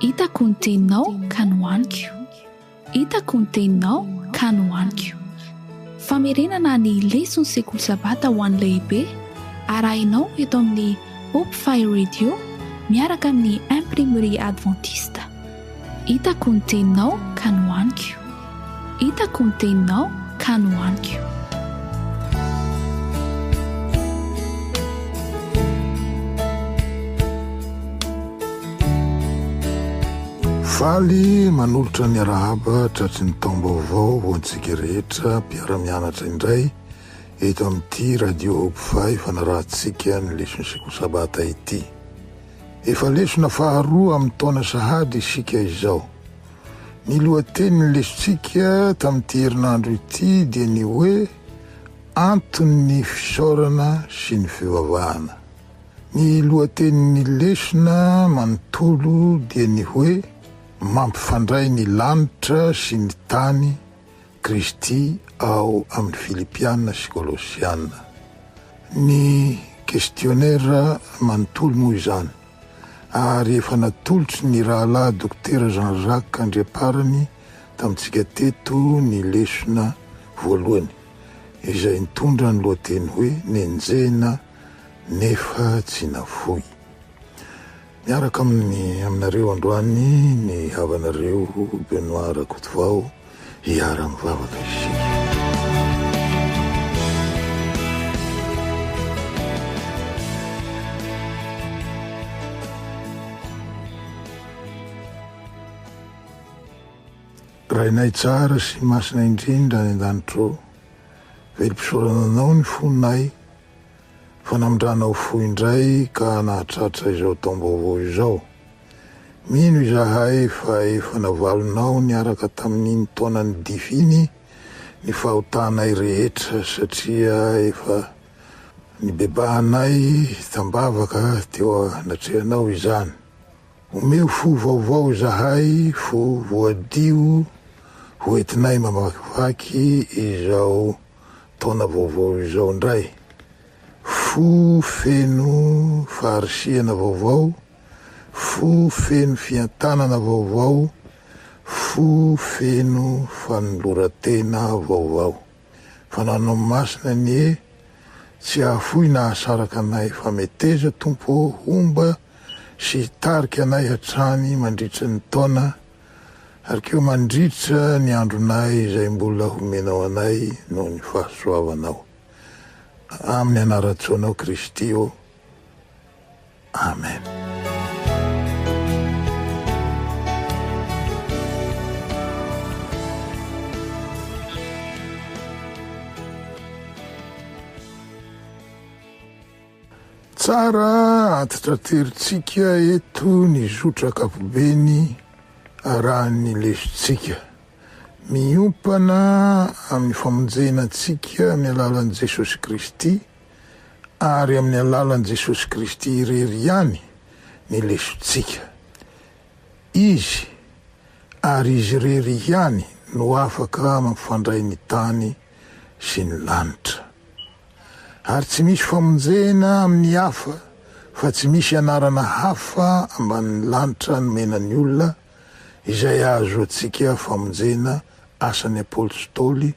Hitako ny teninao ka nohaniko Hitako ny teninao ka nohaniko Famerenana ny leson'ny sekoly sabata ho an'ny lehibe arahinao eto amin'ny Hope Fire Radio miaraka amin'ny Imprimerie Adventiste. Hitako ny teninao ka nohaniko. Hitako ny teninao ka nohaniko. Faly manolotra ny arahaba tratry ny taom-baovao ho antsika rehetra mpiara-mianatra indray eto amin'ity Radio Hope Five fanarahantsika ny lesonin'ny Sekoly Sabata ity. Efa lesona faharoa amin'ny taona sahady isika izao. Ny lohatenin'ny lesontsika tamin'ity herinandro ity dia ny hoe Anton'ny fisaorana sy ny fivavahana. Ny lohatenin'ny lesona manontolo dia ny hoe Mampifandray ny lanitra sy ny tany, Kristy ao amin'ny Filipiana sy Kolosiana. Ny questionnaire manontolo moa izany, ary efa natolotry ny Rahalahy Dokotera Jean Jacques Andriamparany tamintsika teto ny lesona voalohany, izay nitondra ny lohateny hoe Nenjehina nefa tsy nafoy. Miaraka aminy aminareo androany ny havanareo Benoît Rakotovao hiara mivavaka isika. Rainay tsara sy masina indrindra any an-danitro ô, velom-pisaorana anao ny fonay Fanamdrana ho fohy indray ka nahatratra izao taom-baovao izao. Mino izahay fa efa navalonao niaraka tamin'iny taonan'ny dify iny ny fahotanay rehetra satria efa nibebahanay tambavaka teo anatrehanao izany. Omeo fo vaovao izahay, fo voadio hoentinay mamakivaky izao. taona vaovao izao indray. Fo feno faharisihana vaovao, fo feno fientanana vaovao, fo feno fanoloran-tena vaovao. Fananao Masina anie, tsy hahafoy nahasaraka anay fa meteza Tompo ô, homba sy hitarika anay hatrany mandritry ny taona Ary koa mandritra ny andronay izay mbola homenao anay noho ny fahasoavanao. Amin'ny anaran-tsoanao Kristy ô. Amen. Tsara antitra tery tsika eto ny zotra ankapobeny arahan'ny lesontsika. Miompana amin'ny famonjena antsika amin'ny alalan'i Jesosy Kristy ary amin'ny alalan'i Jesosy Kristy irery ihany ny lesontsika. Izy ary Izy irery ihany no afaka mampifandray ny tany sy ny lanitra. Ary tsy misy famonjena amin'ny hafa, fa tsy misy anarana hafa ambanin'ny lanitra nomena ny olona, izay ahazoantsika famonjena, Asan'ny Apôstôly,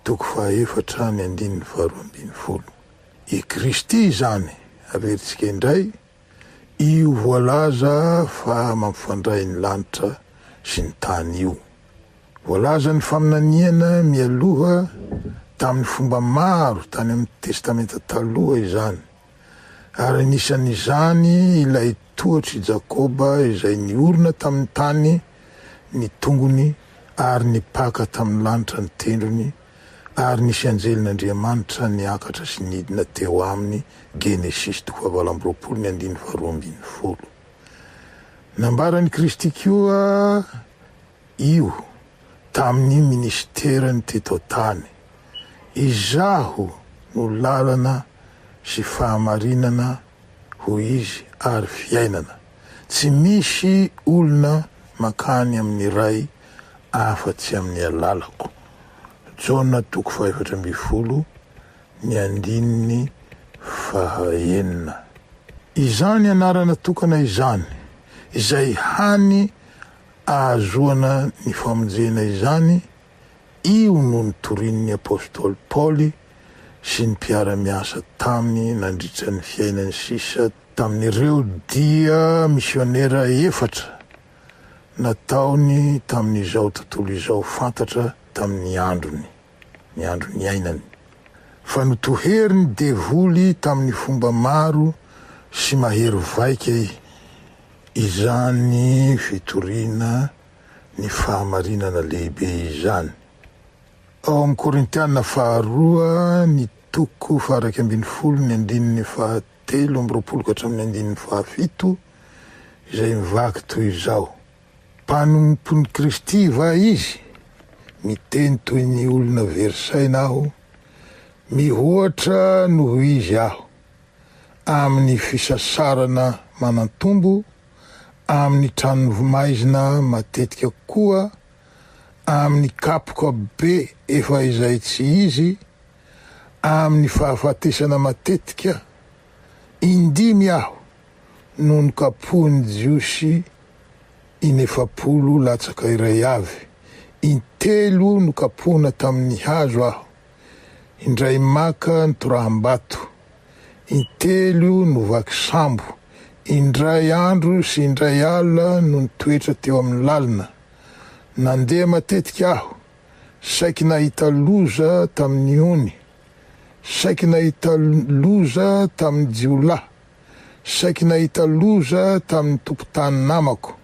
toko fahaefatra ny andininy faharoa ambin'ny folo. I Kristy izany, averintsika indray, Io voalaza fa mampifandray ny lanitra sy ny tany io. Voalazan'ny faminaniana mialoha tamin'ny fomba maro tany amin'ny Testamenta Taloha izany, ary anisan'izany ilay tohatr'i Jakoba izay niorina tamin'ny tany ny tongony ary nipaka tamin'ny lanitra ny tendrony Ary nisy anjelin'Andriamanitra niakatra sy nidina teo aminy Genesisy toko fahavalo amby roapolo ny andininy faharoa ambin'ny folo Nambaran'i Kristy koa io tamin'ny minisiterany teto an-tany Izaho no lalana sy fahamarinana hoy Izy ary fiainana Tsy misy olona mankany amin'ny Ray afa-tsy amin'ny alalako. Jaona toko fahefatra ambin'ny folo, ny andininy fahaenina. Izany anarana tokana izany, izay hany ahazoana ny famonjena izany, Io no notorian'ny apostoly Paoly sy ny mpiara-miasa taminy nandritra ny fiainany sisa. Tamin'ireo dia misionera efatra nataony tamin'izao tontolo izao fantatra tamin'ny androny, ny andro niainany, fa notoherin'ny devoly tamin'ny fomba maro sy mahery vaika izany fitoriana ny fahamarinana lehibe izany. Ao amin'ny Korintiana faharoa ny toko faha-iraika ambin'ny folo ny andininy fahatelo amby roapolo ka hatramin'ny andininy fahafito izay mivaky toy izao, Mpanompon'i Kristy va izy? Miteny toy ny olona very saina aho, mihoatra noho izy aho, amin'ny fisasarana manan-tombo amin'ny tranon'ny vomaizina matetika koa amin'ny kapoka be efa izay tsy izy, amin'ny fahafatesana matetika, indimy aho no nokapohin'ny Jiosy inefapolo latsaka iray avy, intelo nokapohina tamin'ny hazo aho, indray maka nitoraham-bato, intelo no vaky sambo, indray andro sy indray alina no nitoetra teo amin'ny lalina. Nandeha matetika aho, saiky nahita loza tamin'ny ony, saiky nahita loza tamin'ny jiolahy, saiky nahita loza tamin'ny tompon-tany namako.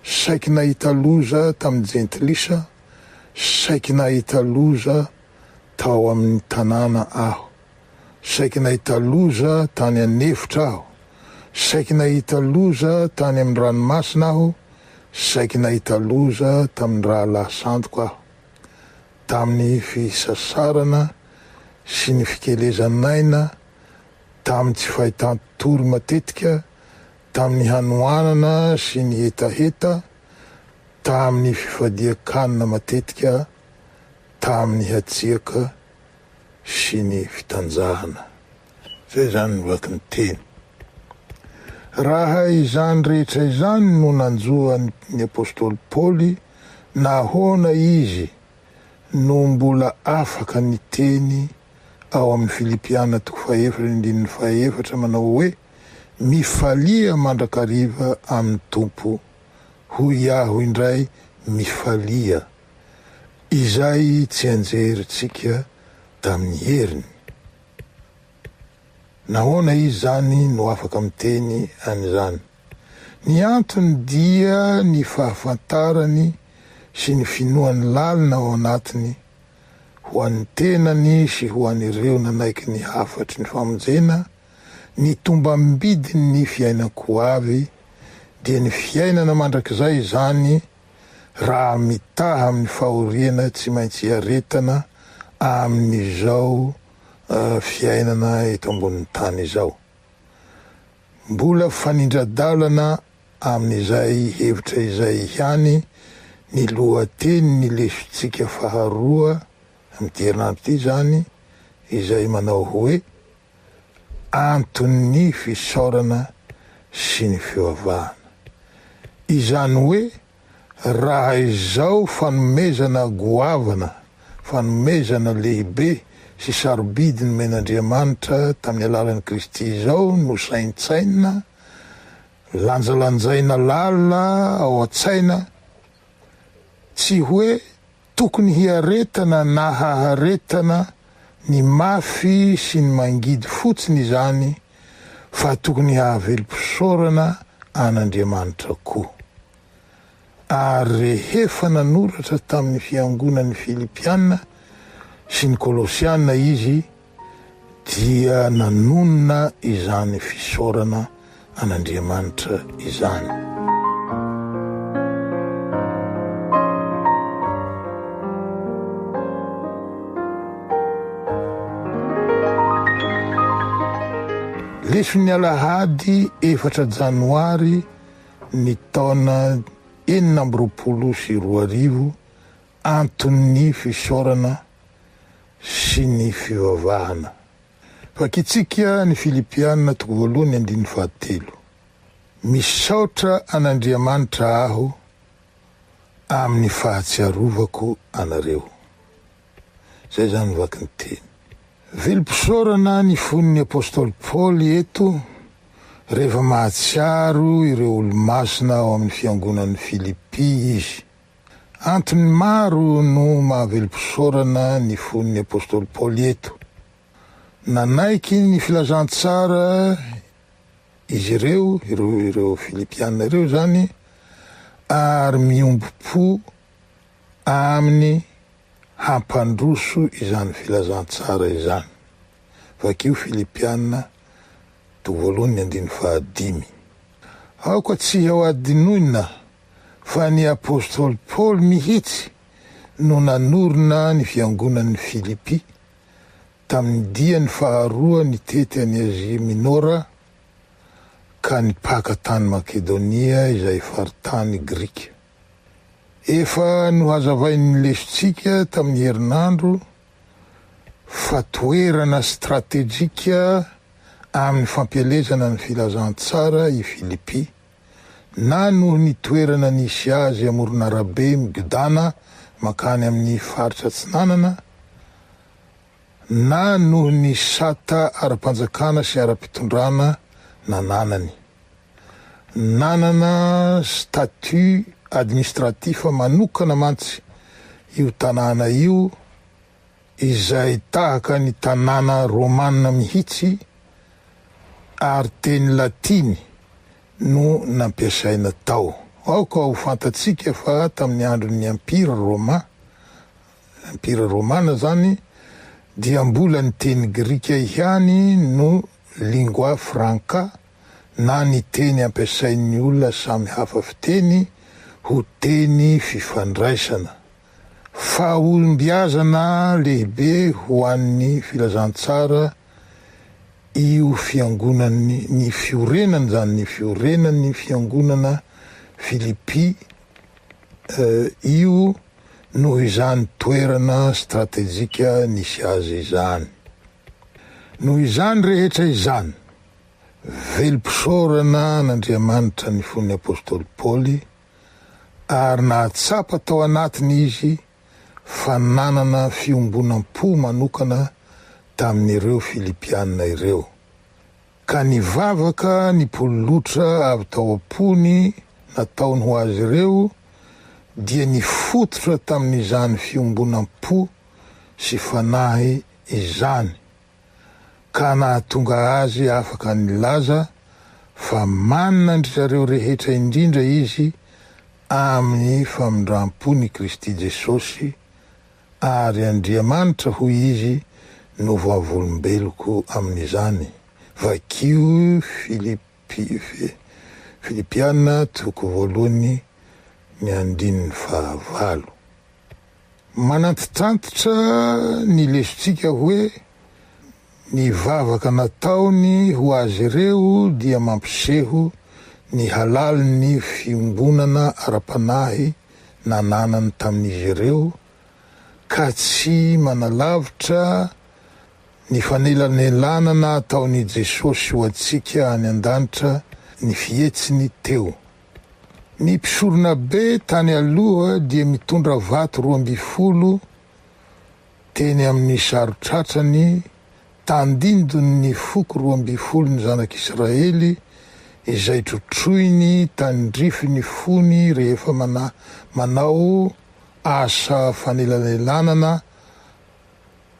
saiky nahita loza tamin'ny jentilisa, saiky nahita loza tao amin'ny tanàna aho, saiky nahita loza tany an'efitra aho, saiky nahita loza tany amin'ny ranomasina aho, saiky nahita loza tamin'ny rahalahy santoko aho. Tamin'ny fisasarana sy ny fikelezan'aina, tamin'ny tsy fahitan-tory matetika, tamin'ny hanoanana sy ny hetaheta tamin'ny fifadian-kanina matetika tamin'ny hatsiaka sy ny fitanjahana. Izay izany ny vaky ny teny. Raha izany rehetra izany no nanjo an'ny apostoly Paoly, nahoana izy no mbola afaka niteny ao amin'ny Filipiana toko fahaefatra ny andininy fahaefatra manao hoe, Mifalia mandrakariva amin'ny Tompo, hoy aho indray mifalia, Izay tsianjerintsika tamin'ny heriny. Nahoana izy izany no afaka miteny an'izany? Ny antony dia ny fahafantarany sy ny finoany lalina ao anatiny ho an'ny tenany sy ho an'ireo nanaiky ny hafatry ny famonjena Ny tombam-bidin' ny fiainako avy dia ny fiainana mandrakizay izany raha mitaha amin' ny fahoriana tsy maintsy iaretana amin' izao fiainana eto ambonin'ny tany izao. Mbola fanindra-dalana amin' izay hevitra izay ihany ny lohatenin' ny lesontsika faharoa amin' ity herinandro ity izany izay manao hoe. anton'ny fisaorana sy ny fivavahana. Izany hoe raha izao fanomezana goavana, fanomezana lehibe sy sarobidy nomen'Andriamanitra tamin'ny alalan'i Kristy izao no saintsainina, lanjalanjaina lalina ao an-tsaina, tsy hoe Tokony hiaretana na haharetana ny mafy sy ny mangidy fotsiny izany fa tokony hahavelom-pisaorana an'Andriamanitra koa. Ary rehefa nanoratra tamin'ny fiangonan'ny Filipiana sy ny Kolosiana izy, dia nanonona izany fisaorana an'Andriamanitra izany. Lesin'ny alahady efatra janoary ny taona enina amby roapolo sy roa arivo anton'ny fisaorana sy ny fivavahana. Vakitsika ny Filipiana toko voalohany andininy fahatelo, Misaotra an'Andriamanitra aho amin'ny fahatsiarovako anareo. Izay izany ny vaky ny teny. Velom-pisaorana ny fon'ny apostoly Paoly eto rehefa mahatsiaro ireo olo-masina ao amin'ny fiangonan'i Filipy izy. Antony maro no mahavelom-pisaorana ny fon'ny apostoly Paoly eto. Nanaiky ny filazantsara izy ireo, ireo Filipiana ireo izany, ary miombom-po aminy hampandroso izany filazantsara izany. Vakio Filipiana toko voalohany ny andininy fahadimy. Aoka tsy hadinoina fa ny apostoly Paoly mihitsy no nanorina ny fiangonan'i Filipy, tamin'ny diany faharoa nitety an'i Azia Minora ka nipaka tany Makedonia izay faritany grika. Efa nohazavain'ny lesontsika tamin'ny herinandro fa toerana stratejika amin'ny fampielezana ny filazantsara i Filipy, na noho ny toerana nisy azy amoron'arabe migodàna mankany amin'ny faritra Atsinanana, na noho ny sata ara-panjakana sy ara-pitondrana nananany. Nanana statut administratif manokana mantsy io tanàna io, izay tahaka ny tanàna romana mihitsy ary teny latiny no nampiasaina tao. Aoka ho fantatsika fa tamin'ny andron'ny Empira Roma, Empira Romana izany, dia mbola ny teny grika ihany no lingua franca na ny teny ampiasain'ny olona samy hafa fiteny ho teny fifandraisana. Fahombiazana lehibe ho an'ny Filazantsara io fiangonan'ny ny fiorenana izany, ny fiorenan'ny fiangonana Filippi io noho izany toerana stratejika nisy azy izany. Noho izany rehetra izany, velom-pisaorana an'Andriamanitra ny fon'ny apostoly Paoly, ary nahatsapa tao anatiny izy fa nanana fiombonam-po manokana tamin'ireo Filipiana ireo, ka nivavaka ny pololotra avy tao am-pony nataony ho azy ireo, dia nifototra tamin'izany fiombonam-po sy fanahy izany. ka nahatonga azy afaka nilaza fa manana an-dry zareo rehetra indrindra izy amin'ny famindram-pon' i Kristy Jesosy, ary Andriamanitra, hoy izy, no vavolombeloko amin'izany, vakio Filipi, Filipiana, toko voalohany, ny andininy fahavalo. Manantitrantitra ny lesontsika hoe, Ny vavaka nataony ho azy ireo dia mampiseho ny halalin'ny fiombonana ara-panahy nananany tamin'izy ireo, ka tsy manalavitra ny fanelanelanana ataon'i Jesosy ho antsika any an-danitra ny fihetsiny teo. Ny mpisoronabe tany aloha dia mitondra vato roa ambin'ny folo teny amin'ny saron-tratrany tandindon'ny foko roa ambin'ny folon'ny zanak'Israely izay trotroiny tandrify ny fony rehefa manao asa fanelanelanana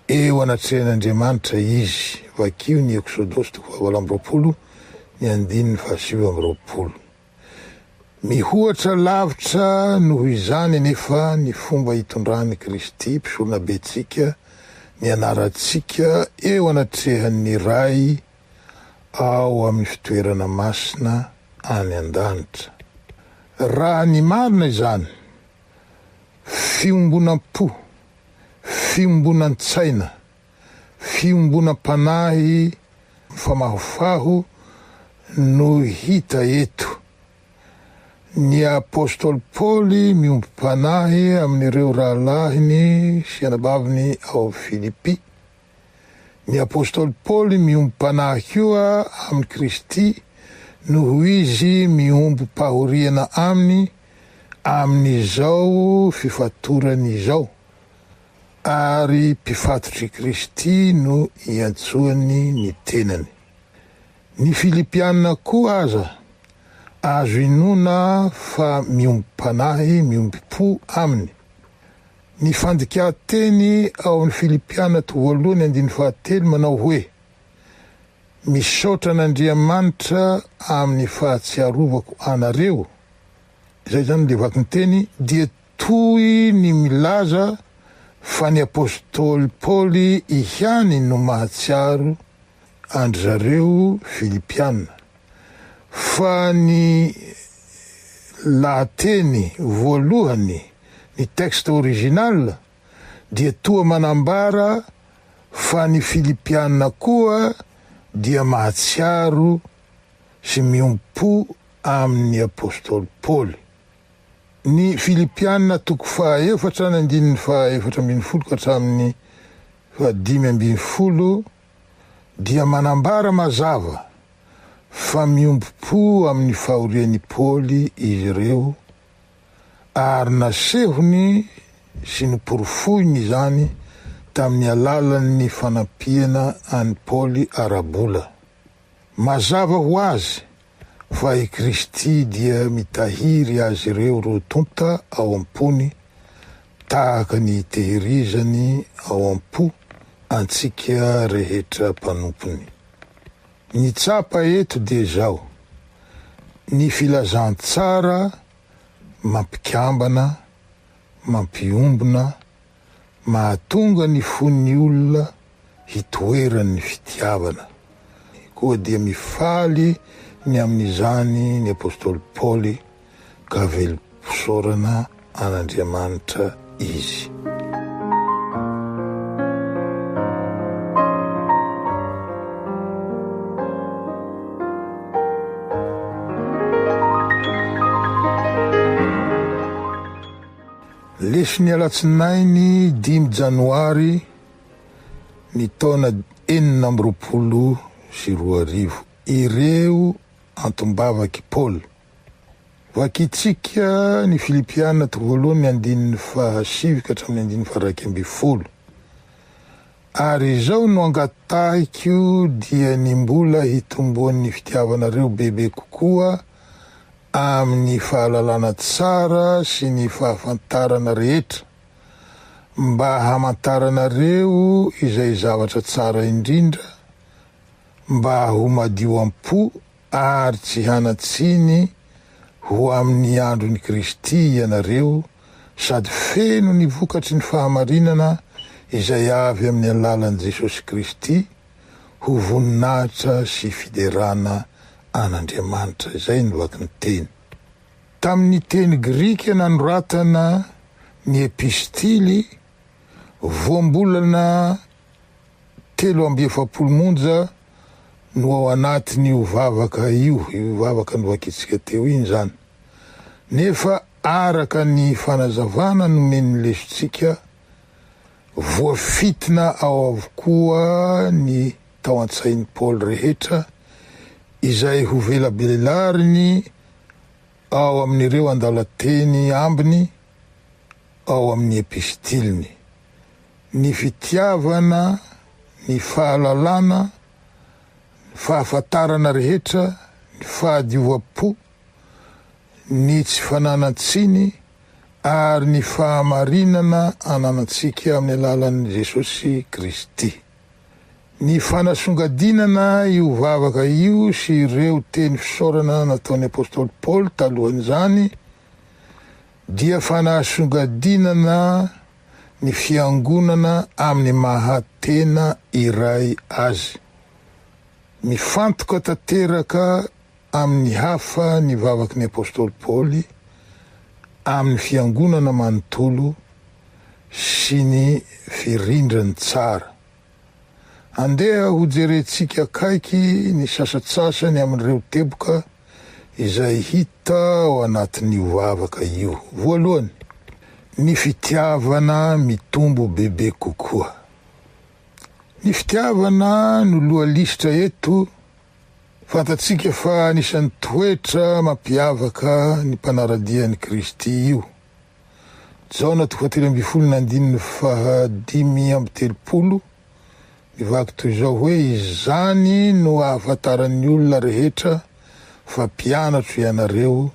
Eo anatrehan'Andriamanitra izy. Vakio ny Eksodosy toko fahavalo amby roapolo ny andininy fahasivy amby roapolo. Mihoatra lavitra noho izany anefa ny fomba itondran'i Kristy, Mpisoronabentsika, ny anarantsika eo anatrehan'ny Ray ao amin'ny fitoerana masina any an-danitra. Raha ny marina izany, Fiombonam-po, fiombonantsaina, fiombonam-panahy mifamahofaho no hita eto. Ny apostoly Paoly miombom-panahy amin'ireo rahalahiny sy anabaviny ao Filipi. Ny apostoly Paoly miombom-panahy koa amin'i Kristy noho izy miombom-pahoriana aminy, amin'izao fifatorany izao, ary mpifatotr'i Kristy no iantsoany ny tenany. Ny Filipiana koa aza, azo inoana fa miombom-panahy, miombom-po aminy. Ny fandikan-teny ao amin'ny Filipiana to voalohany andininy fahatelo manao hoe, Misaotra an'Andriamanitra amin'ny fahatsiarovako anareo, Izay izany dia vakinteny dia toy ny milaza fa ny apostoly Paoly ihany no mahatsiaro an-dry zareo Filipiana fa ny lahateny voalohany, ny texte original, dia toa manambara fa ny Filipiana koa dia mahatsiaro sy miompo amin' ny apostoly Paoly. Ny Filipiana toko fahaefatra ny andininy fahaefatra ambin'ny folo ka hatramin' ny fahadimy ambin'ny folo dia manambara mazava fa miombom-po amin' ny fahorian' i Paoly izy ireo ary nasehony sy noporofoiny izany tamin' ny alalan' ny fanampiana an' i Paoly ara-bola. Mazava ho azy fa i Kristy dia mitahiry azy ireo roa tonta ao am-pony tahaka ny itehirizany ao am-po antsika rehetra mpanompony. Ny tsapa eto dia izao, ny filazantsara mampikambana, mampiombona Mahatonga ny fon'ny olona hitoeran'ny fitiavana, koa dia mifaly ny amin'izany ny apostoly Paoly, ka velom-pisaorana an'Andriamanitra izy. Lesin'ny alatsinainy dimy janoary ny taona enina amby roapolo sy roa arivo ireo antom-bavak'i Paoly. Vakintsika ny Filipiana toko voalohany ny andininy fahasivy ka hatramin'ny andininy faha-iraika ambin'ny folo. Ary izao no angatahiko dia ny mbola hitomboan'ny fitiavanareo bebe kokoa amin'ny fahalalana tsara sy ny fahafantarana rehetra, mba hamantaranareo izay zavatra tsara indrindra, mba ho madio am-po Ary tsy hanan-tsiny ho amin'ny andron'i Kristy ianareo, sady feno ny vokatry ny fahamarinana izay avy amin'ny alalan'i Jesosy Kristy, ho voninahitra sy fiderana an'Andriamanitra. Izay no vaky ny teny. Tamin'ny teny grika nanoratana ny epistily voambolana. Telo amby efapolo monja no ao anatin'io vavaka io, io vavaka novakintsika teo iny izany. Nefa araka ny fanazavana nomen'ny lesontsika, voafintina ao avokoa ny tao an-tsain'i Paoly rehetra izay ho velabelariny ao amin'ireo andalan-teny ambiny ao amin'ny epistiliny, ny fitiavana, ny fahalalana, ny fahafantarana rehetra, ny fahadiovam-po, ny tsy fananan-tsiny, ary ny fahamarinana ananantsika amin'ny alalan'i Jesosy Kristy. Ny fanasongadinana io vavaka io sy ireo teny fisaorana nataon'ny apostoly Paoly talohan'izany, Dia fanasongadinana ny fiangonana amin'ny maha tena iray azy. Mifantoka tanteraka amin'ny hafa ny vavaky ny apostoly Paoly amin'ny fiangonana manontolo sy ny firindrany tsara. Andeha hojerentsika akaiky ny sasatsasany amin'ireo teboka izay hita ao anatin'io vavaka io. Voalohany, ny fitiavana mitombo bebe kokoa. Ny fitiavana no lohalisitra eto, fantatsika fa anisan'ny toetra mampiavaka ny mpanara-dia an'i Kristy io. Jaona toko fahatelo ambin'ny folo ny andininy faha dimy amby telopolo Nivaky toy izao hoe, Izany no ahafantaran'ny olona rehetra fa mpianatro ianareo,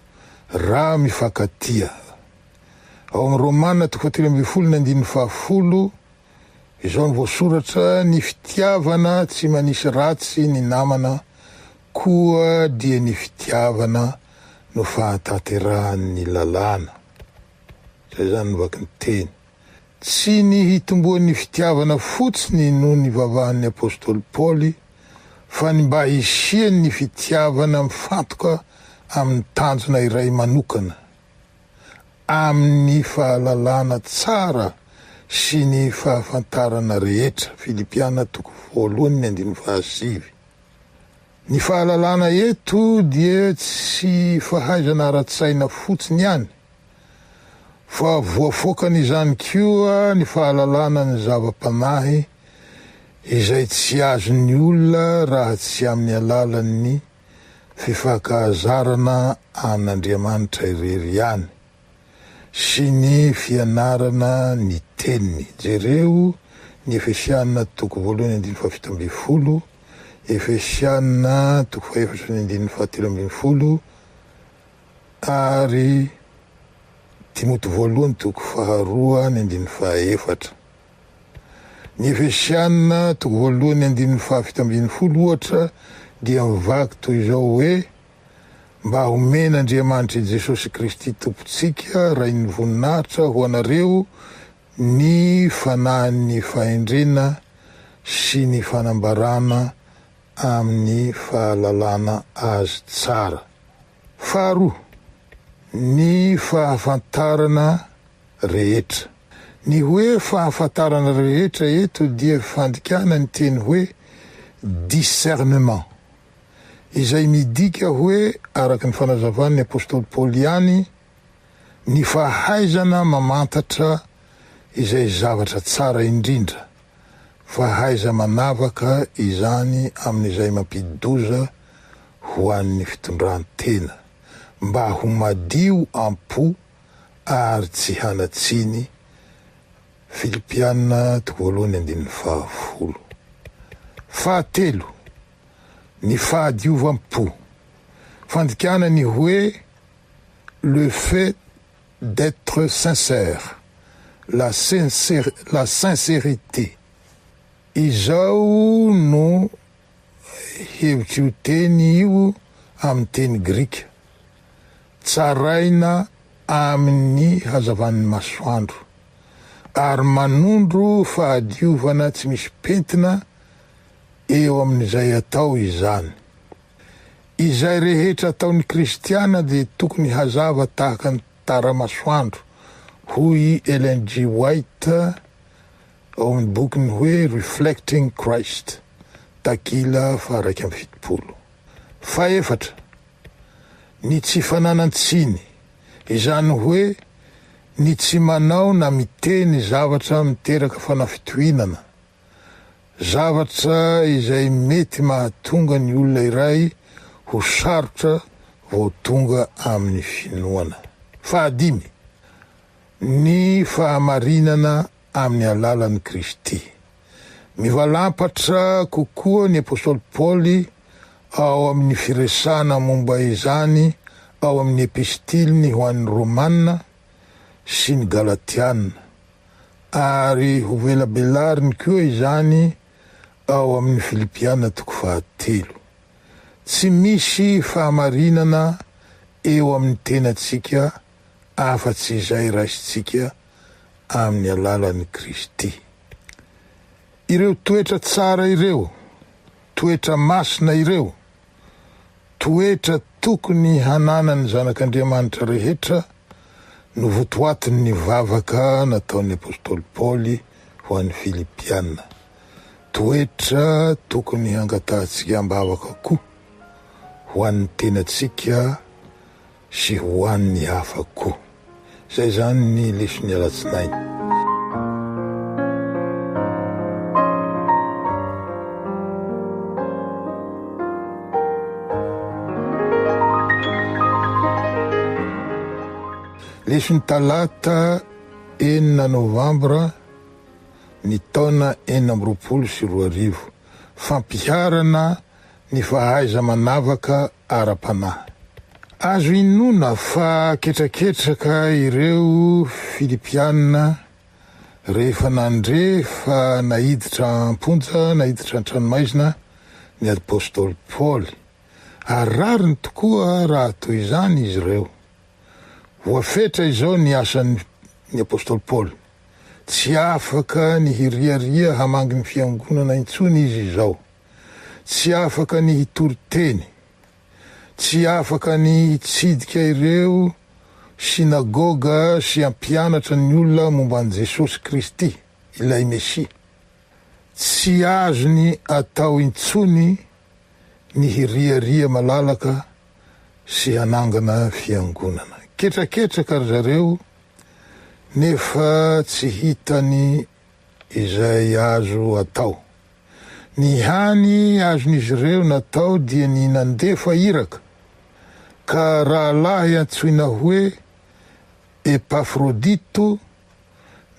raha mifankatia. Ao amin'ny Romana toko fahatelo ambin'ny folo ny andininy fahafolo, izao no voasoratra, Ny fitiavana tsy manisy ratsy ny namana, koa dia ny fitiavana no fahatanterahan'ny lalàna. Izay izany ny vaky ny teny. Tsy ny hitomboan'ny fitiavana fotsiny no nivavahan'ny apostoly Paoly fa ny mba hisian'ny fitiavana mifantoka amin'ny tanjona iray manokana, amin'ny fahalalana tsara sy ny fahafantarana rehetra, Filipiana toko voalohany andininy fahasivy. Ny fahalalana eto dia tsy fahaizana ara-tsaina fotsiny ihany. fa voafoakan'izany koa ny fahalalana ny zava-panahy izay tsy azon'ny olona raha tsy amin'ny alalan'ny fifankahazarana an'Andriamanitra irery ihany sy ny fianarana ny Teniny. Jereo ny Efesiana toko voalohany andininy fahafito ambin'ny folo, Efesiana toko fahefatra ny andininy fahatelo ambin'ny folo, Ary Timoty Voalohany toko faharoa ny andininy fahaefatra. Ny Efesiana toko voalohany ny andininy fahafito ambin'ny folo, ohatra, dia mivaky toy izao hoe, Mba homen'Andriamanitr'i Jesosy Kristy Tompontsika, Rain'ny voninahitra, ho anareo ny fanahin'ny fahendrena sy ny fanambarana amin'ny fahalalana azy tsara. Faharoa, ny fahafantarana rehetra. Ny hoe fahafantarana rehetra eto dia fandikana ny teny hoe discernement, izay midika hoe, araka ny fanazavan'ny apostoly Paoly ihany, Ny fahaizana mamantatra izay zavatra tsara indrindra, fahaiza-manavaka izany amin'izay mampidi-doza ho an'ny fitondran-tena, mba ho madio am-po ary tsy hanatsiny, Filipiana toko voalohany andininy fahafolo. Fahatelo, ny fahadiovam-po, fandikana ny hoe, le fait d'etre sincère, la la sincérité. Izao no hevitr'io teny io amin'ny teny grika, tsaraina amin'ny hazavan'ny masoandro, ary manondro fahadiovana tsy misy pentina eo amin'izay atao izany. Izay rehetra ataon'ny kristiana dia tokony hazava tahaka ny tara-masoandro, hoy i Ellen G. White ao amin'ny bokiny hoe Reflecting Christ, takila faha iraika amby fitopolo. Fahefatra, ny tsy fananan-tsiny, izany hoe ny tsy manao na miteny zavatra miteraka fanafitohinana. zavatra izay mety mahatonga ny olona iray ho sarotra vao tonga amin'ny finoana. Fahadimy, ny fahamarinana amin'ny alalan'i Kristy. Mivalampatra kokoa ny apostoly Paoly ao amin'ny firesahana momba izany ao amin'ny epistiliny ho an'ny Romana sy ny Galatiana. ary ho velabelariny koa izany ao amin'ny Filipiana toko fahatelo. Tsy misy fahamarinana eo amin'ny tenantsika afa-tsy izay raisintsika amin'ny alalan'i Kristy. Ireo toetra tsara ireo, toetra masina ireo, Toetra tokony hananan'ny zanak'Andriamanitra rehetra no votoatin'ny vavaka nataon'ny apostoly Paoly ho an'ny Filipiana. Toetra tokony hangatahantsika am-bavaka koa ho an'ny tenantsika Sy ho an'ny hafa koa. Izay izany ny leson'ny alatsinainy. Leson'ny talata enina novambra ny taona enina amby roapolo sy roa arivo. Fampiharana ny fahaiza-manavaka ara-panahy. Azo inoana fa ketraketraka ireo Filipiana rehefa nandre fa naiditra am-ponja, naiditra an-tranomaizina, ny apostoly Paoly, ary rariny tokoa raha toy izany izy ireo. Voafetra izao ny asan'ny apostoly Paoly. Tsy afaka ny hiriaria hamangy ny Fiangonana intsony izy izao. Tsy afaka ny hitory teny. Tsy afaka ny hitsidika ireo synagoga sy hampianatra ny olona momba an'i Jesosy Kristy, ilay Mesia. Tsy azony atao intsony ny hiriaria malalaka sy hanangana fiangonana. Ketraketraka ry zareo nefa tsy hitany Izay azo atao. Ny hany azon'izy ireo natao dia ny nandefa iraka, ka rahalahy antsoina hoe Epafrodito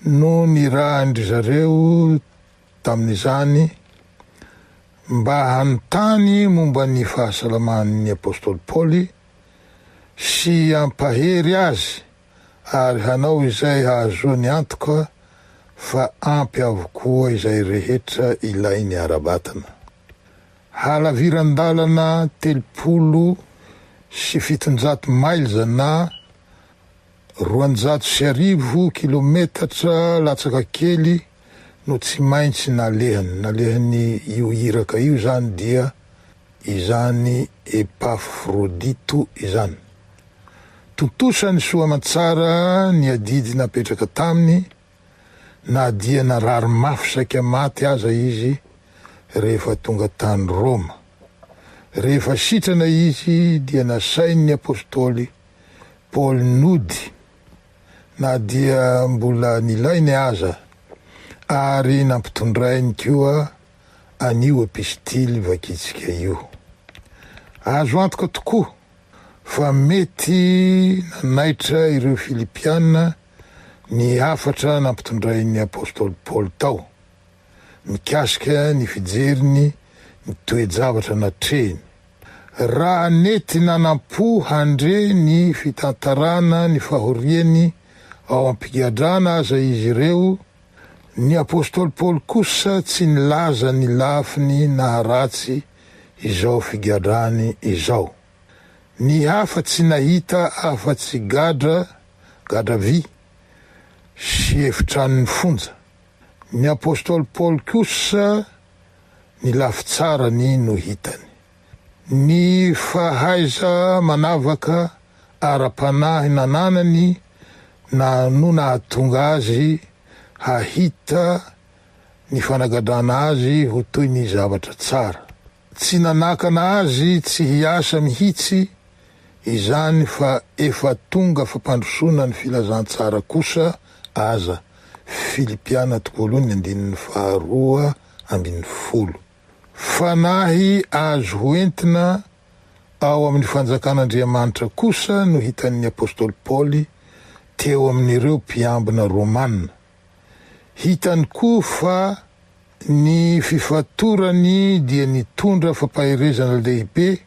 no nirahan-dry zareo tamin'izany mba hanontany momba ny fahasalaman'ny apostoly Paoly sy hampahery azy, Ary hanao izay hahazoany antoka fa ampy avokoa izay rehetra ilainy ara-batana. Halaviran-dalana telopolo sy fitonjato miles na roanjato sy arivo kilometatra latsaka kely no tsy maintsy nalehany, nalehany io iraka io izany dia izany Epafrodito izany. Tontosainy soa aman-tsara ny adidy napetraka taminy na dia narary mafy saika maty aza izy rehefa tonga tany Roma. Rehefa sitrana izy dia nasain'ny apostoly Paoly nody na dia mbola nilainy aza ary nampitondrainy koa an'io epistily vakintsika io. Azo antoka tokoa fa mety nanaitra ireo Filipiana ny hafatra nampitondrain'ny apostoly Paoly tao, mikasika ny fijeriny ny toe-javatra natrehiny. Raha nety nanampo handre ny fitantarana ny fahoriany ao am-pigadrana aza izy ireo, Ny apostoly Paoly kosa tsy nilaza ny lafiny naharatsy izao figadrany izao. Ny hafa tsy nahita afa-tsy gadra, gadra vy, sy efitranon'ny fonja. Ny apostoly Paoly kosa ny lafitsarany no hitany. Ny fahaiza-manavaka ara-panahy nananany na no nahatonga azy hahita ny fanagadrana azy ho toy ny zavatra tsara. Tsy nanakana azy tsy hiasa mihitsy izany fa efa tonga fampandrosoana ny filazantsara kosa aza, Filipiana toko voalohany andininy faharoa ambin'ny folo. Fanahy azo hoentina ao amin'ny Fanjakan'Andriamanitra kosa no hitan'ny apostoly Paoly teo amin'ireo mpiambina romana. Hitany koa fa ny fifatorany dia nitondra fampaherezana lehibe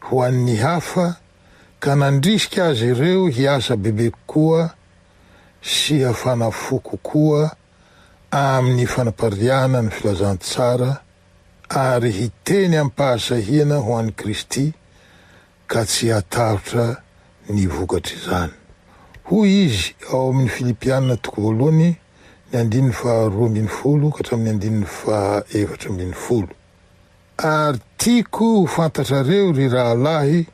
ho an'ny hafa, ka nandrisika azy ireo hiasa bebe kokoa sy hafana fo kokoa, amin'ny fanapariahana ny filazantsara ary hiteny amim-pahasahiana ho an'i Kristy ka tsy hahatahotra ny vokatr'izany. Hoy izy ao amin'ny Filipiana toko voalohany ny andininy faha roa ambin'ny folo ka hatramin'ny andininy faha efatra ambin'ny folo, Ary tiako ho fantatrareo, ry rahalahy,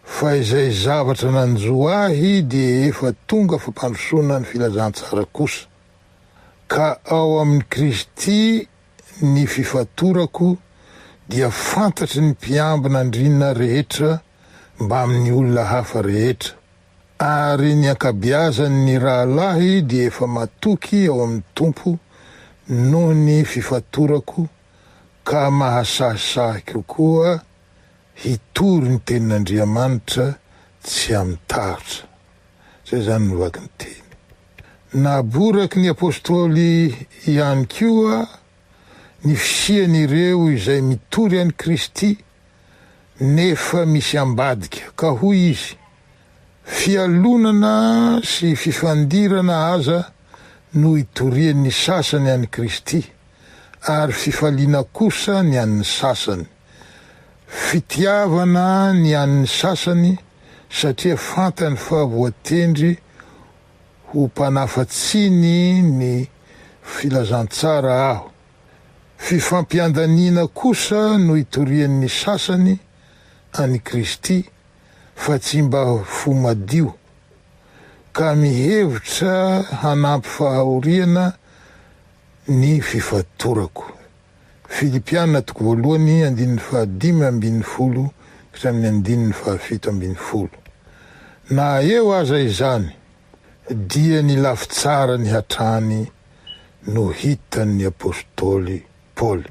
Fa izay zavatra nanjo ahy dia efa tonga fampandrosoana ny filazantsara kosa, ka ao amin'i Kristy ny fifatorako dia fantatry ny mpiambina andriana rehetra mbamin'ny olona hafa rehetra, ary ny ankabiazan'ny rahalahy dia efa matoky ao amin'ny Tompo noho ny fifatorako ka mahasahisahy kokoa Hitory ny tenin'Andriamanitra tsy amin'ny tahotra. Izay izany no vaky ny teny. Naboraky ny apostoly ihany koa ny fisian'ireo izay mitory an'i Kristy nefa misy ambadika, ka hoy izy, Fialonana sy fifandirana aza no itorian'ny sasany an'i Kristy, ary fifaliana kosa ny an'ny sasany. Fitiavana ny an'ny sasany satria fantany fa voatendry ho mpanafa-tsiny ny filazantsara aho. Fifampiandaniana kosa no itorian'ny sasany an'i Kristy fa tsy mba fo madio, ka mihevitra hanampy fahahoriana ny fifatorako. Filipiana toko voalohany andininy fahadimy ambin'ny folo ka hatramin'ny andininy fahafito ambin'ny folo. Na eo aza izany, dia ny lafitsarany hatrany no hitan'ny apostoly Paoly.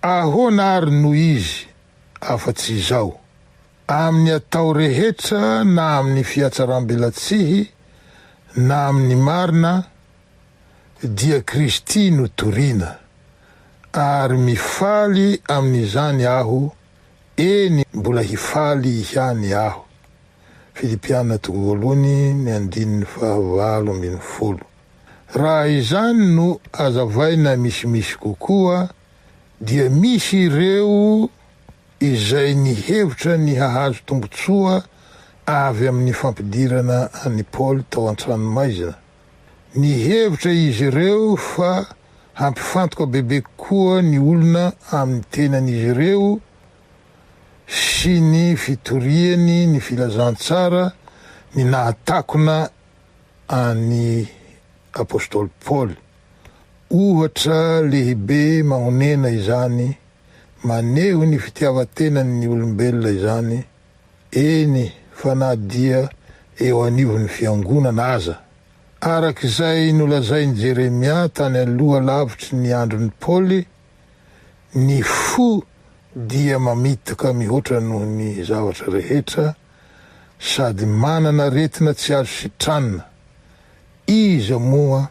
Ahoana àry no izy afa-tsy izao? Amin'ny atao rehetra na amin'ny fihatsaram-belatsihy na amin'ny marina dia Kristy no toriana, ary mifaly amin'izany aho, eny, mbola hifaly ihany aho. Filipiana toko voalohany ny andininy fahavalo ambin'ny folo. Raha izany no azavaina misimisy kokoa, dia misy ireo izay nihevitra ny hahazo tombontsoa avy amin'ny fampidirana an'i Paoly tao an-tranomaizina, Nihevitra izy ireo fa hampifantoka bebe kokoa ny olona amin'ny tenan'izy ireo sy ny fitoriany ny filazantsara ny nahatakona an'i apostoly Paoly. Ohatra lehibe mahonena izany maneho ny fitiavan-tenan'ny olombelona izany Eny fa na dia eo anivon'ny fiangonana aza. Araka izay nolazain'i Jeremia tany aloha lavitry ny andron'i Paoly, ny fo dia mamitaka mihoatra noho ny zavatra rehetra sady manana aretina tsy azo sitranina. Iza moa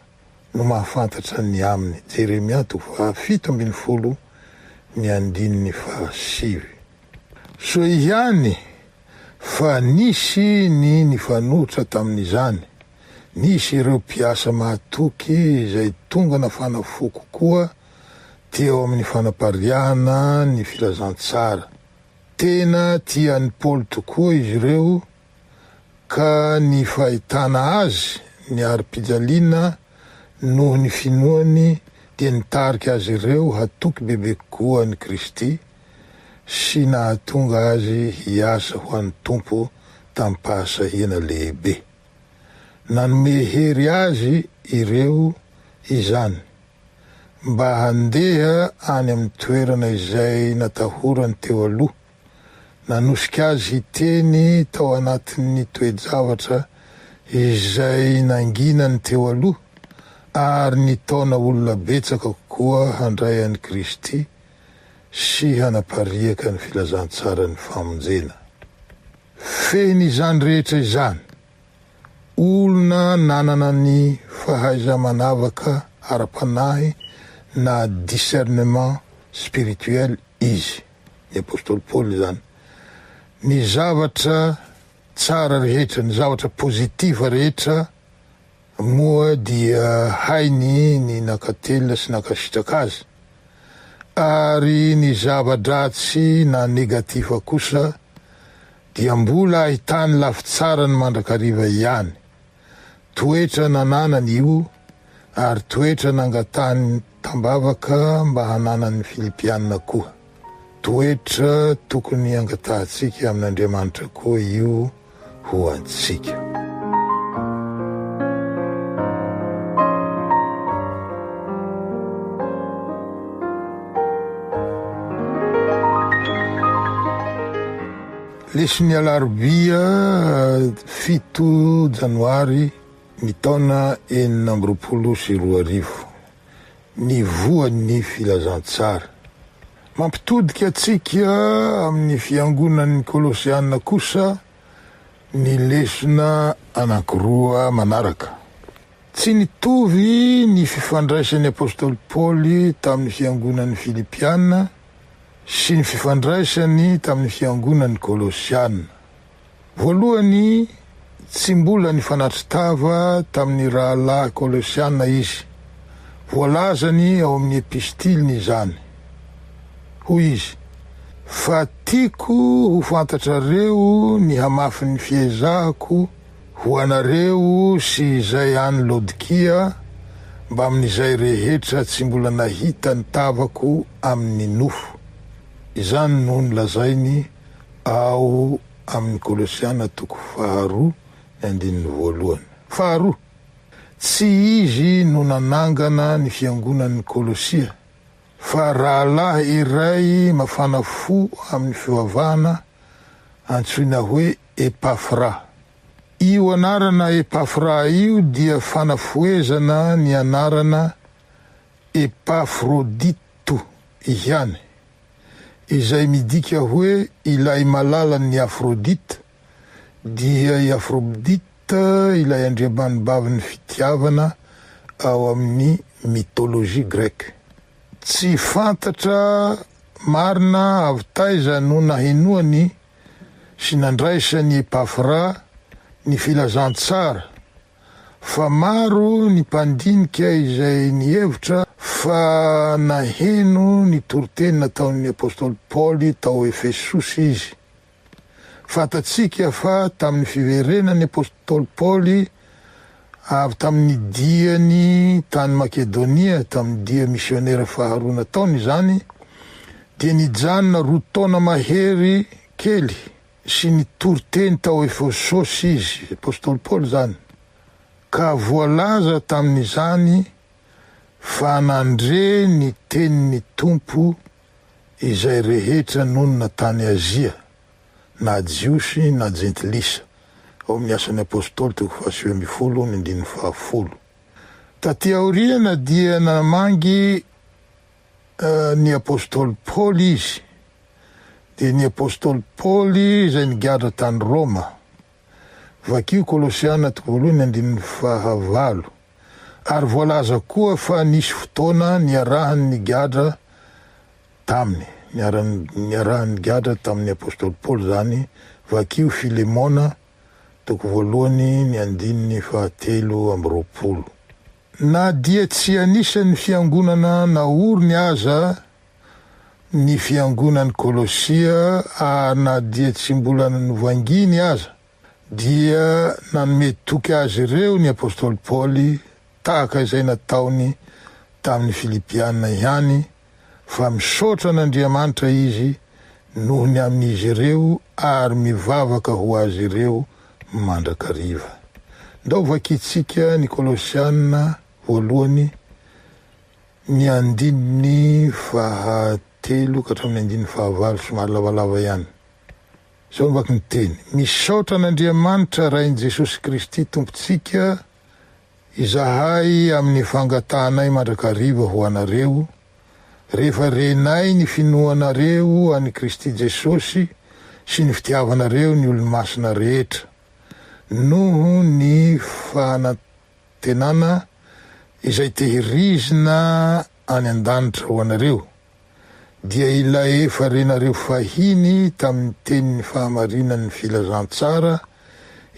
no mahafantatra ny aminy. Jeremia toko fahafito ambin'ny folo ny andininy fahasivy. Soa ihany fa nisy ny nifanohitra tamin'izany. Nisy ireo mpiasa mahatoky izay tonga nafana fo kokoa teo amin'ny fanapariahana ny filazantsara. Tena tian'i Paoly tokoa izy ireo ka ny fahitana azy niari-pijaliana noho ny finoany dia nitarika azy ireo hatoky bebe kokoa an'i Kristy sy nahatonga azy hiasa ho an'ny Tompo tamim-pahasahiana lehibe. Nanome hery azy ireo izany mba handeha any amin'ny toerana izay natahorany teo aloha. Nanosika azy hiteny tao anatin'ny toe-javatra izay nanginany teo aloha ary nitaona olona betsaka kokoa handray an'i Kristy sy hanapariaka ny filazantsaran'ny famonjena. Fehiny izany rehetra izany, olona nanana ny fahaiza-manavaka ara-panahy na discernement spirituel izy. ny apostoly Paoly izany. Ny zavatra tsara rehetra, ny zavatra positive rehetra moa dia hainy ny nankatelina sy nankasitraka azy, ary ny zava-dratsy na negative kosa dia mbola ahitany lafitsarany mandrakariva ihany. Toetra nananany io ary toetra nangatahany tambavaka mba hananan'ny Filipiana koa. Toetra tokony angatahantsika amin'Andriamanitra koa io ho antsika. Lesy ny alarobia fito janoary ny taona enina amby roapolo sy roa arivo, ny voan'ny filazantsara. Mampitodika antsika amin'ny fiangonan'ny Kolosiana kosa ny lesona anankiroa manaraka. Tsy nitovy ny fifandraisan'ny apostoly Paoly tamin'ny fiangonan'i Filipiana. sy ny fifandraisany tamin'ny fiangonan'ny Kolosiana. Voalohany, tsy mbola nifanatri-tava tamin'ny rahalahy Kolosiana izy. Voalazany ao amin'ny epistiliny izany. Hoy izy, Fa tiako ho fantatrareo ny hamafin'ny fiezahako, Ho anareo sy izay any Laodikia, mbamin'izay rehetra tsy mbola nahita ny tavako amin'ny nofo. Izany no nolazainy ao amin'ny Kolosiana toko faharoa ny andininy voalohany. Faharoa, tsy izy no nanangana ny fiangonan'ny Kolosia, fa rahalahy iray mafana fo amin'ny fivavahana antsoina hoe Epafra. Io anarana Epafra io dia fanafohezana ny anarana Epafrodito ihany, izay midika hoe ilay malalan'ny Afrodita, dia i Afrobdita ilay andriamanibavin'ny fitiavana ao amin'ny mythologie grecque. Tsy fantatra marina avy taiza no nahenoany sy nandraisan' i Epafra ny filazantsara, fa maro ny mpandinika izay nihevitra fa naheno ny toriteny nataon' ny apostoly Paoly tao Efesosy izy. Fantatsika fa tamin' ny fiverenan' ny apostoly Paoly, Avy tamin'ny diany tany Makedonia, tamin'ny dia misionera faharoa nataony izany, dia nijanona roa taona mahery kely sy nitory teny tao Efesosy izy, i apostoly Paoly izany, ka voalaza tamin'izany fa nandre ny tenin'ny Tompo izay rehetra nonina tany Azia, na Jiosy na Jentilisa, ao amin'ny Asan'ny Apôstôly toko fahasivy ambin'ny folo ny andininy fahafolo. Tatỳ aoriana dia namangy ny Apôstôly Paoly izy, dia ny Apôstôly Paoly izay nigadra tany Rôma. Vakio Kolosiana toko voalohany ny andininy fahavalo. Ary voalaza koa fa nisy fotoana niarahany nigadra Taminy. Niarahany nigadra tamin'ny apostoly Paoly izany. Vakio Filemona, toko voalohany, ny andininy fahatelo amby roapolo. Na dia tsy anisan'ny fiangonana naoriny aza ny fiangonan'i Kolosia ary na dia tsy mbola novanginy aza, dia nanome toky azy ireo ny apostoly Paoly, tahaka izay nataony tamin'ny Filipiana ihany, fa misaotra an'Andriamanitra izy noho ny amin'izy ireo ary mivavaka ho azy ireo mandrakariva. Ndao vakintsika ny Kolosiana voalohany, ny andininy fahatelo ka hatramin'ny andininy fahavalo, somary lavalava ihany. Izao no vaky ny Teny, Misaotra an'Andriamanitra Rain'i Jesosy Kristy Tompontsika, Izahay amin'ny fangatahanay mandrakariva ho anareo, rehefa renay ny finoanareo an'i Kristy Jesosy sy ny fitiavanareo ny olomasina rehetra, noho ny fanantenana izay tehirizina any an-danitra ho anareo. dia ilay efa renareo fahiny tamin'ny tenin'ny fahamarinan'ny filazantsara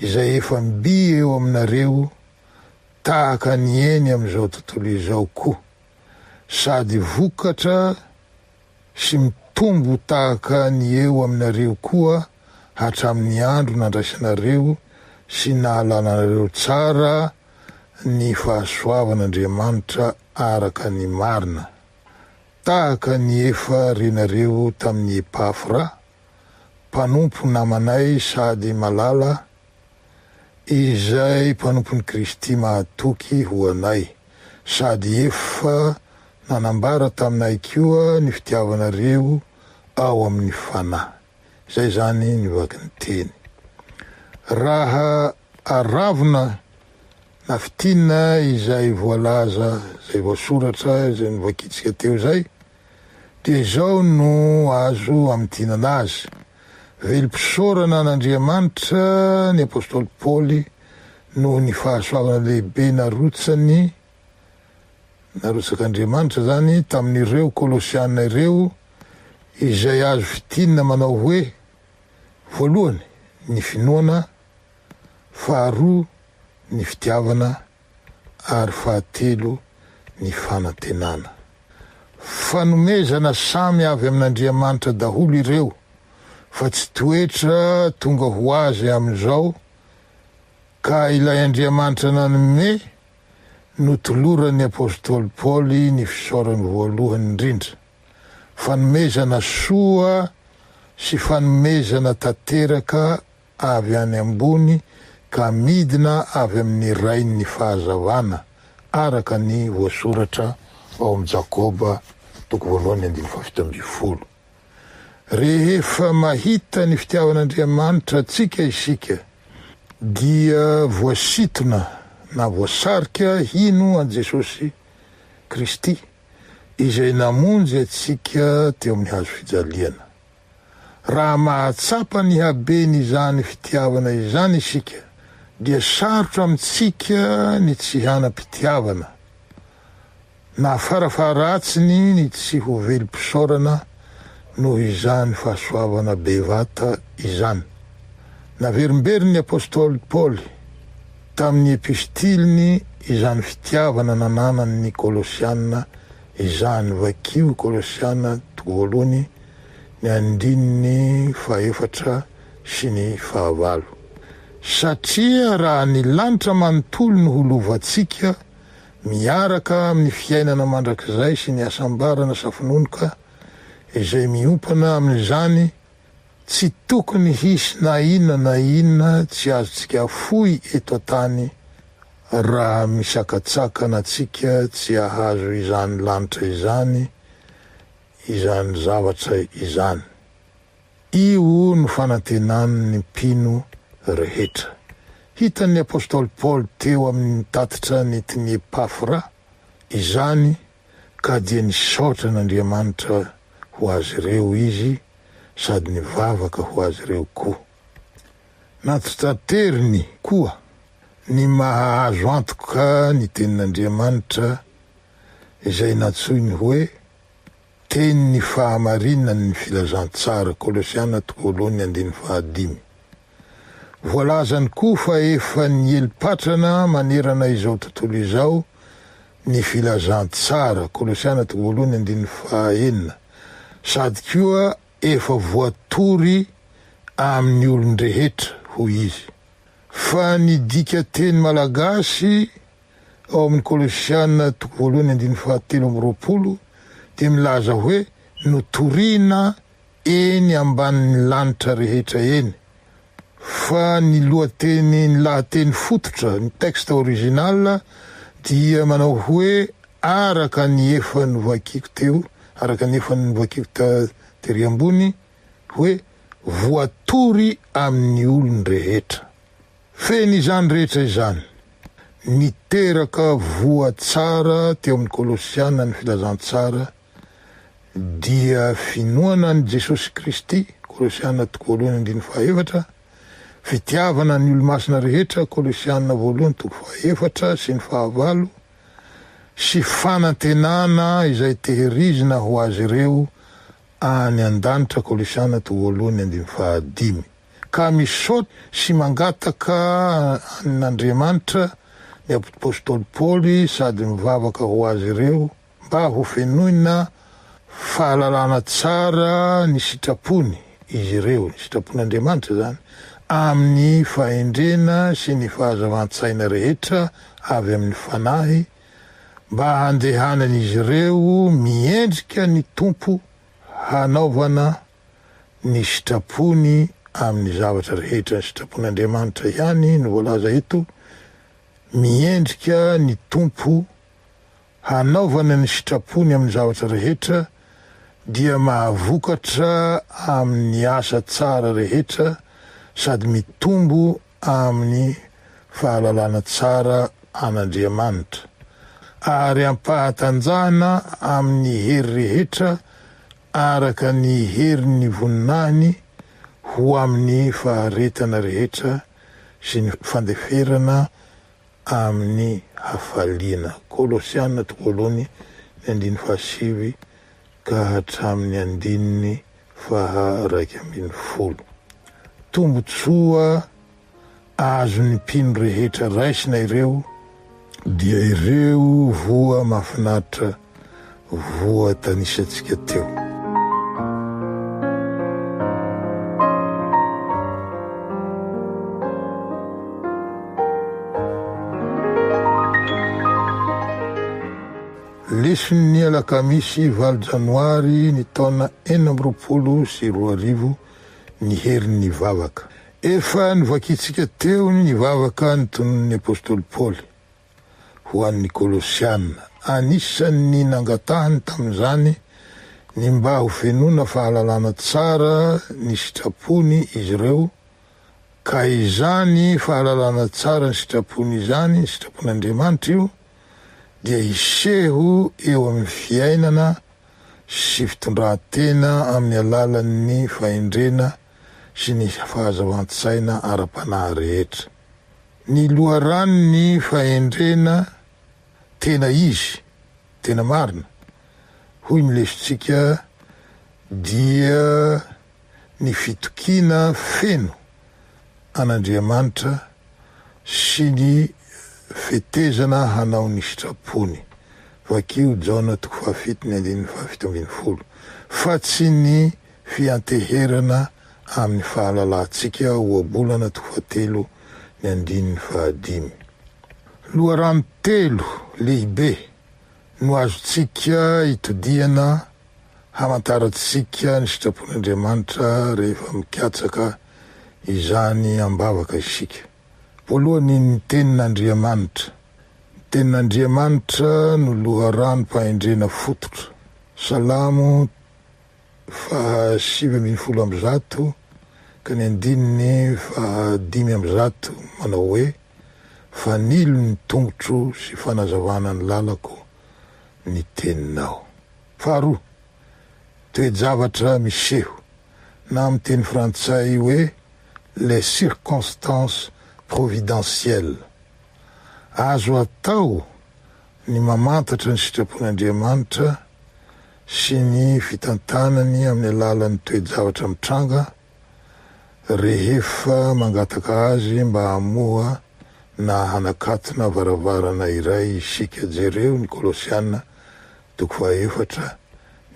izay efa mby eo aminareo tahaka ny eny amin'izao tontolo izao koa sady vokatra sy mitombo tahaka ny eo aminareo koa hatramin'ny andro nandraisanareo sy nahalananareo tsara ny fahasoavan'Andriamanitra araka ny marina. Tahaka ny efa renareo tamin'i Epafra, mpanompo namanay sady malala, izay mpanompon'i Kristy mahatoky ho anay, sady efa nanambara taminay koa ny fitiavanareo ao amin'ny Fanahy. Izay izany ny vakin'ny teny. Raha Aravona na fintinina izay voalaza, izay voasoratra, izay novakiantsika teo izay, dia izao no azo amintinana azy, Velom-pisaorana an'Andriamanitra ny apostoly Paoly noho ny fahasoavana lehibe narotsany, narotsak'Andriamanitra izany, tamin'ireo Kolosiana ireo, izay azo fintinina manao hoe, voalohany, ny finoana, faharoa ny fitiavana ary fahatelo ny fanantenana. Fanomezana samy avy amin'Andriamanitra daholo ireo fa tsy toetra tonga ho azy amin'izao ka ilay Andriamanitra nanome no toloran'ny apostoly Paoly ny fisaorany voalohany indrindra, fanomezana soa sy fanomezana tanteraka avy any ambony ka midina avy amin'ny Rain'ny fahazavana, araka ny voasoratra ao amin'ny Jakoba toko voalohany andininy fahafito ambin'ny folo. Rehefa mahita ny fitiavan'Andriamanitra antsika isika, dia voasitona na voasarika hino an'i Jesosy Kristy, izay namonjy antsika teo amin'ny hazo fijaliana. Raha mahatsapa ny haben' izany fitiavana izany isika, dia sarotra amintsika ny tsy hanam-pitiavana, na farafaharatsiny ny tsy ho velom-pisaorana noho izany fahasoavana bevata izany. Naverimberin'ny apostoly Paoly tamin'ny epistiliny izany fitiavana nananany ny Kolosiana izany, vakio Kolosiana toko voalohany, ny andininy fahefatra sy ny fahavalo. Satria raha ny lanitra manontolo no ho lovantsika, miaraka amin'ny fiainana mandrakizay sy ny hasambarana safononoka izay miompana amin'izany, tsy tokony hisy na inona na inona tsy azontsika afoy eto an-tany raha misakatsakana antsika tsy hahazo izany lanitra izany, izany zavatra izany. Io no fanantenan' ny mpino rehetra. Hitan' ny apostoly Paoly teo amin' ny tatitra nentin' i Epafra izany ka dia nisaotra an' Andriamanitra ho azy ireo izy sady nivavaka ho azy ireo koa. Nantitrateriny koa ny maha azo antoka ny Tenin' Andriamanitra izay nantsoiny hoe Teny ny fahamarinany ny filazantsara, Kolosiana tokoloany andininy fahadimy. Voalazany koa fa efa niely patrana manerana izao tontolo izao ny filazantsara, Kolosiana tokoloany andininy fahaenina, sady koa efa voatory amin'ny olon-drehetra, hoy izy, fa ny dika teny malagasy ao amin'ny Kolosiana toko voalohany andininy fahatelo amby roapolo dia milaza hoe notorina eny ambanin'ny lanitra rehetra eny fa ny lohateny ny lahateny fototra ny texte original dia manao hoe araka ny efa novakiako teo araka ny efa novakiako ta tery ambony hoe voatory amin'ny olon-drehetra. Feno izany rehetra izany. Niteraka voa tsara teo amin'ny Kolosiana ny filazantsara dia finoana an'i Jesosy Kristy, Kolosiana toko voalohany andininy fahaefatra, fitiavana ny olomasina rehetra, Kolosiana voalohany toko fahaefatra sy ny fahavalo, sy fanantenana izay tehirizina ho azy ireo any an-danitra, Kolosiana toko voalohany andininy fahadimy. ka misaotra sy mangataka amin'Andriamanitra ny apostoly Paoly sady mivavaka ho azy ireo mba hofenoina fahalalana tsara ny sitrapony izy ireo, ny sitrapon'Andriamanitra izany, amin'ny fahendrena sy ny fahazavan-tsaina rehetra avy amin'ny Fanahy, mba handehanan'izy ireo miendrika ny Tompo hanaovana Ny sitrapony amin'ny zavatra rehetra, ny sitrapon'Andriamanitra ihany no voalaza eto, miendrika ny Tompo hanaovana ny sitrapony amin'ny zavatra rehetra dia mahavokatra amin'ny asa tsara rehetra sady mitombo amin'ny fahalalana tsara an'Andriamanitra ary ampahatanjahana amin'ny hery rehetra araka ny herin'ny voninahiny ho amin'ny faharetana rehetra sy ny fandeferana amin'ny hafaliana. Kolosiana toko voalohany ny andininy fahasivy ka hatramin'ny andininy faha iraika ambin'ny folo. Tombontsoa. azon'ny mpino rehetra raisina ireo dia ireo voa mahafinaritra voatanisantsika teo. Leson'ny alakamisy valo janoary ny taona enina amby roapolo sy roa arivo ny herin'ny vavaka. Efa novakintsika teo ny vavaka notononin'ny apostoly Paoly ho an'ny Kolosiana. Anisan'ny nangatahany tamin'izany ny mba hofenoina fahalalana tsara ny sitrapony izy ireo, ka izany fahalalana tsara ny sitrapony izany, ny sitrapon'Andriamanitra io, dia hiseho eo amin'ny fiainana sy fitondran-tena amin'ny alalan'ny fahendrena sy ny fahazavan-tsaina ara-panahy rehetra. Ny loharanon'ny fahendrena tena izy, tena marina, hoy ny lesontsika dia. ny fitokiana feno an'Andriamanitra sy ny fetezana hanao ny sitrapony, vakio Jaona toko fahafito ny andininy fahafito ambin'ny folo, fa tsy ny fianteherana amin'ny fahalalantsika, Ohabolana toko fahatelo ny andininy fahadimy. Loharano telo lehibe no azontsika itodihana hamantarantsika ny sitrapon'Andriamanitra rehefa mikatsaka izany am-bavaka isika? Voalohany, ny Tenin'Andriamanitra. Ny Tenin'Andriamanitra no loharanom-pahendrena fototra. Salamo faha sivy ambin'ny folo amby zato ka ny andininy faha dimy amby zato manao hoe. Fanilo ny tongotro sy fanazavana ny lalako ny teninao. Faharoa, toe-javatra miseho, na amin'ny teny frantsay hoe les circonstances providentielles. Azo atao ny mamantatra ny sitrapon'Andriamanitra sy ny fitantanany amin'ny alalan'ny toe-javatra mitranga, Rehefa mangataka azy mba hamoha na hanakatona varavarana iray isika, jereo ny Kolosiana toko fahaefatra,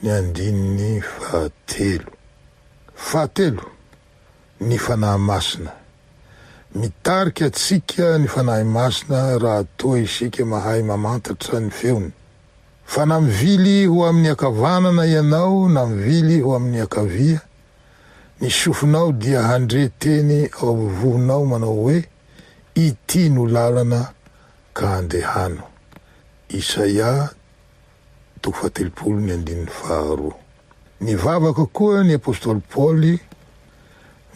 ny andininy fahatelo. Fahatelo, ny Fanahy Masina. Mitarika antsika ny Fanahy Masina raha toa isika mahay mamantatra ny feony. Fa na mivily ho amin'ny ankavanana ianao na mivily ho amin'ny ankavia, Ny sofinao dia handre teny ao vohonao manao hoe, Ity no lalana, ka andehano. Isaia toko fahatelopolo ny andininy faharoa. Nivavaka koa ny apostoly Paoly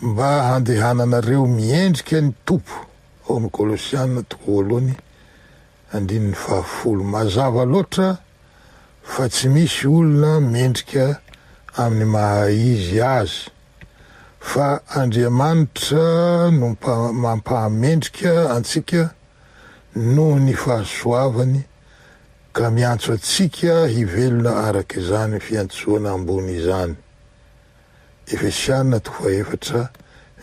mba handehananareo miendrika ny Tompo ao amin'ny Kolosiana toko voalohany andininy fahafolo. Mazava loatra fa tsy misy olona mendrika amin'ny maha izy azy, fa Andriamanitra no mampahamendrika antsika noho ny fahasoavany ka miantso antsika hivelona araka izany fiantsoana ambony izany. Efesiana toko fahaefatra,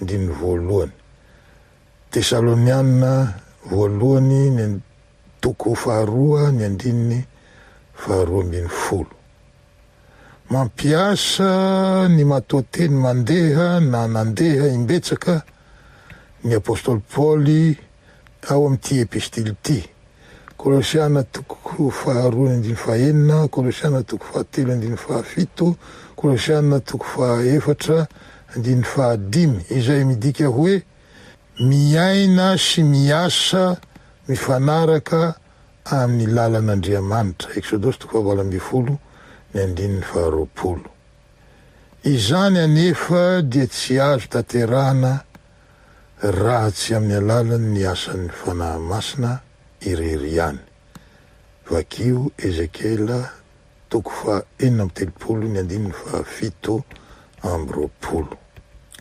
andininy voalohany. Tesalonianina Voalohany ny and. Toko faharoa ny andininy faharoa ambin'ny folo. Mampiasa ny matoanteny mandeha na nandeha imbetsaka ny apostoly Paoly tao amin'ity epistily ity. Kolosiana toko faharoa andininy fahenina, Kolosiana toko fahatelo andininy fahafito, Kolosiana toko fahaefatra andininy fahadimy, izay midika hoe miaina sy miasa mifanaraka amin'ny lalan'Andriamanitra, Eksodosy toko fahavalo ambin'ny folo ny andininy faharoapolo. Izany anefa dia tsy azo tanterahana raha tsy amin'ny alalan' ny asan' ny Fanahy Masina irery ihany. Vakio Ezekiela toko fahaenina amby telopolo ny andininy fahafito amby roapolo.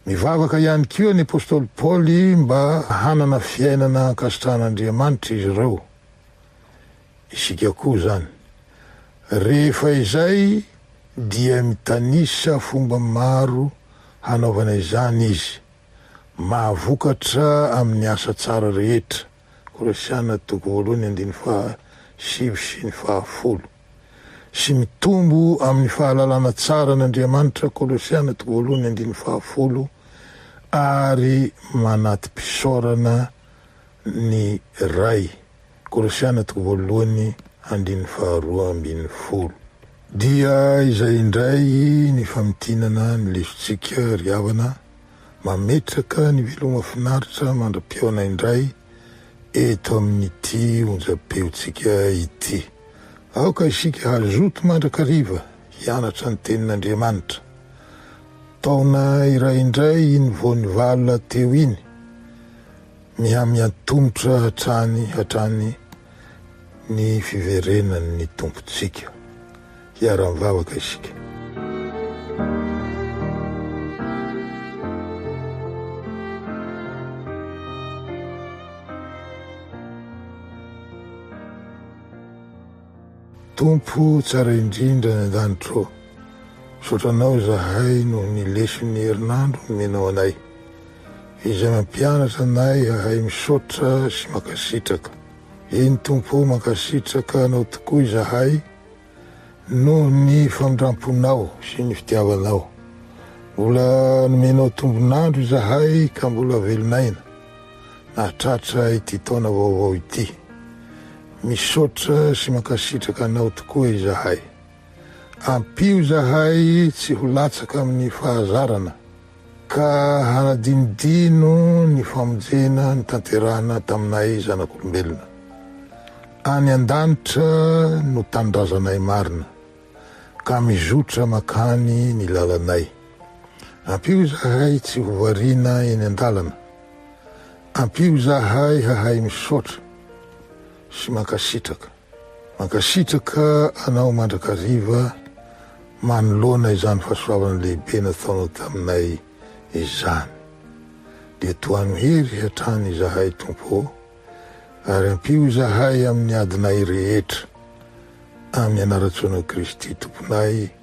Nivavaka ihany koa ny apostoly Paoly mba hanana fiainana ankasitrahan' Andriamanitra izy ireo. isika koa zany. Rehefa izay dia mitanisa fomba maro hanaovana izany izy. Mahavokatra amin'ny asa tsara rehetra, Kolosiana toko voalohany andininy faha sivy sy ny faha folo, sy mitombo amin'ny fahalalana tsara an'Andriamanitra, Kolosiana toko voalohany andininy faha folo, ary manati-pisaorana ny Ray. Kolosiana toko voalohany andininy faharoa ambin'ny folo. Dia izay indray ny famintinana ny lesontsika ry havana, mametraka ny veloma finaritra mandra-pihaona indray eto amin'ity onjam-peontsika ity. Aoka isika hazoto mandrakariva hianatra ny Tenin'Andriamanitra. Taona iray indray iny vao nivalona teo iny. Mihamia tongotra hatrany hatrany ny fiverenan' ny Tompontsika. Hiara-mivavaka isika. Tompo tsara indrindra any an-danitra ô, misaotra Anao izahay noho ny leson' ny herinandro nomenao anay. Izay mampianatra anay hahay misaotra sy mankasitraka. Eny Tompo o, mankasitraka Anao tokoa izahay noho ny famindramponao sy ny fitiavanao. Mbola nomenao tombon'andro izahay ka mbola velon'aina nahatratra ity taona vaovao ity. Misaotra sy mankasitraka Anao tokoa izahay. Ampio izahay tsy ho latsaka amin'ny fahazarana. Ka hanadinodino ny famonjena notanterahina taminay zanak'olombelona. Any an-danitra no tanindrazanay marina, ka mizotra mankany ny lalanay. Ampio izahay tsy ho variana eny an-dalana. Ampio izahay hahay misaotra sy mankasitraka. Mankasitraka anao mandrakariva manoloana izany fahasoavana lehibe nataonao taminay izany. Dia tohano hery hatrany izahay Tompo ô, ary ampio izahay amin'ny adinay rehetra, amin'ny anaran-tsoanao Kristy Tomponay.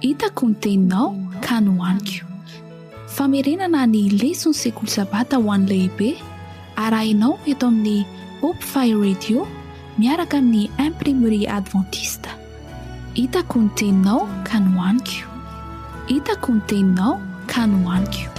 Hitako ny teninao ka nohaniko. Famerenana ny leson'ny Sekoly Sabata ho an'ny Lehibe arahinao eto amin'ny Hope Fire Radio miaraka amin'ny Imprimerie Adventiste. Hitako ny teninao ka nohaniko. Hitako ny teninao ka nohaniko.